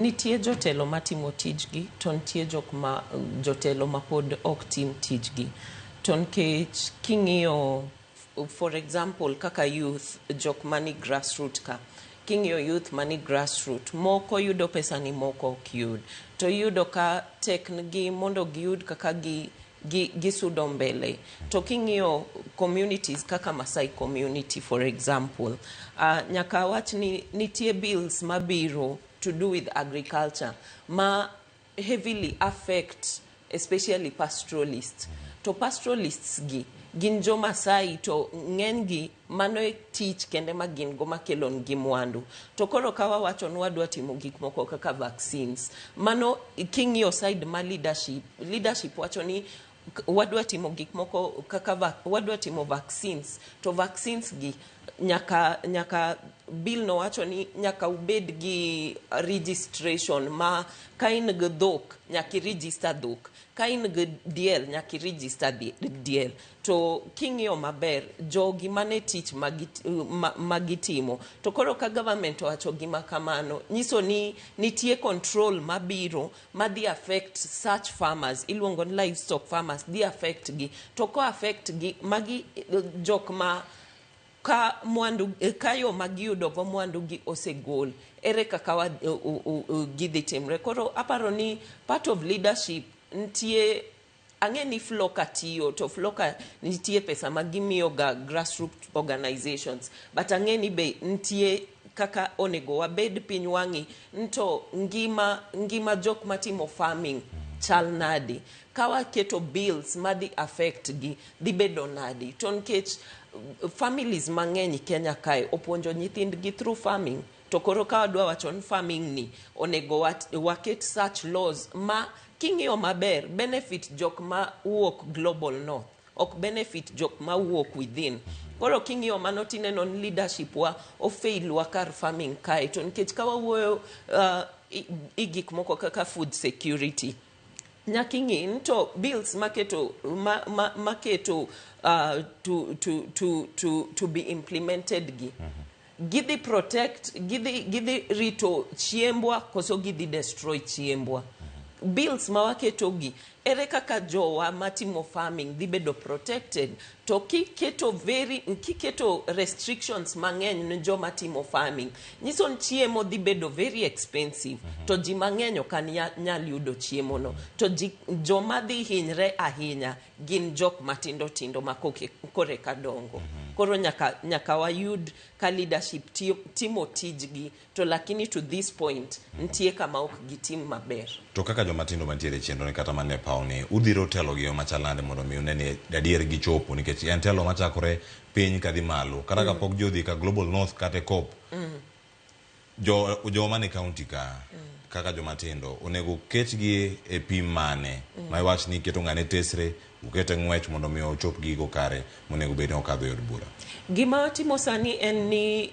Nitie jotelo matimo tijgi to nitie jok ma jotelo mapod ok tim tijgi. To nikech king'iyo for example kaka youth jok mani grassroot ka, king'iyo youth mani grassroot moko yudo pesani moko ok yud. To iyudo ka tekngi mondo giyud kaka gisudo mbele. To king'iyo communities kaka Maasai community for example, nyaka awach ni nitie bills mabiro. to do with agriculture ma heavily affect especially pastoralists to pastoralists gi gin jo Masai to ng'enygi mano e tich kende ma gin go makelo nigi mwandu to koro ka wawacho ni wadwa timo gik moko kaka vaccines mano king'iyo side ma leadership leadership wacho ni wadwa timo gik moko kaka va, wadwa timo vaccines to vaccines gi nyaka nyaka bill no wacho ni nyaka ubed gi registration ma ka in gi dhok nyaka iregister dhok ka in gi diel nyaka iregister diel to king'iyo maber jogi mane tich magitimo ma, ma to koro ka government owacho gima kamano nyiso ni nitie control mabiro ma dhi affect such farmers iluongo ni livestock farmers dhi affect gi to ko affect gi magi eh, jok ma ka mwandu eh, ka yo ma giyudo go mwandu gi osegol ere kaka wa- u- u- u- gidhi timre koro aparo ni part of leadership nitie Ang'e ni Floka tiyo to Floka nitie pesa ma gimiyo ga grassroot organizations but ang'e ni be nitie kaka onego wabed piny wang'i nto ngima ngima jok matimo farming chal nadi kawaketo bills madhi affect gi dhi bedo nadi to nikech families mang'eny Kenya kae opuonjo nyithindgi through farming To koro ka wadwa wacho ni farming ni onego waket such laws ma king'iyo maber benefit jok ma wuok global north ok benefit jok ma wuok within. Koro king'iyo mano tineno ni leadership wa o fail wa kar farming kae to nikech ka wawuoyo uh, i, i gik moko kaka food security nyaka ing'e ni to bills maketo ma, ma, maketo uh, to, to, to, to, to be implemented gi mm -hmm Gidhi protect, gidhi, gidhi rito chiembwa koso gidhi destroy chiembwa? Bills ma waketogi, ere kaka jowa matimo farming dhi bedo protected? To kiketo very, kiketo restrictions mang'eny ne joma timo farming, nyiso ni chiemo dhi bedo very expensive. To ji mang'eny ok nyal yudo chiemono. To ji, joma dhi hinyre ahinya gin jok matindo tindo ma koke- koreka dongo koro nyaka, nyaka wayud ka leadership tiyo, timo tijgi to lakini to this point nitie kama ok gitim maber to kaka joma tindo mantiere e chenro ni kata mane paw ni udhiro telo gi yo machal nade mondo mi une ni adier gichopo nikech en telo machakore piny kadhi malo kata kapok jodhi ka global north kata e cop Jo, joma ni county ka kaka joma tindo onego ketgi e pim mane ma iwach ni iketo ng'ane tesre ukete ng'wech mondo mi ochop gigo kare monego bed ni okadho e od bura. Gima timo sani en ni